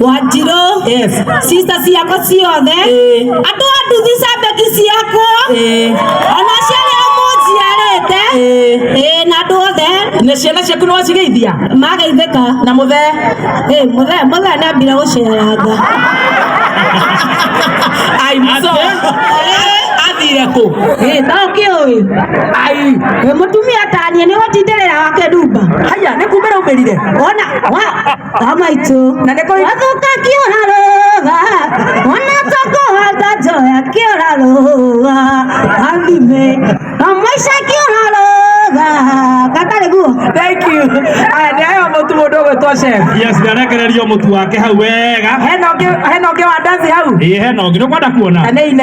wanjirũ Yes. sister ciakwa ciothe Ĩĩ. andũ a nduthi cabeki ciakwa Ĩĩ. ona ciarĩa mũnjiarĩte Ĩĩ. ĩĩ na andũ othe na ciana ciaku nĩ wacigeithia mageithĩka na mũthe ĩĩ mũthee mũthee nambire gũceranga ai mũco athire kũ ĩĩ ta ũkĩũĩ ai ĩĩ mũtumia taniĩ nĩ gũtindĩrĩra wake ndumba haya nĩ kumĩra umĩrire ona wa amaitũ na nĩ kũrĩ wathoka kĩora rũga ona ta kũhanda njoya kĩora rũga athime amaica kĩora rũga gatarĩ guo thank you aya nĩ ayo mũtu mũndũ ũgwĩtwo chef yes ndarekererio mũtu wake hau wega hena ũngĩ hena ũngĩ wa ndazi hau ĩĩ hena ũngĩ nĩũkwenda kuona na nĩ ine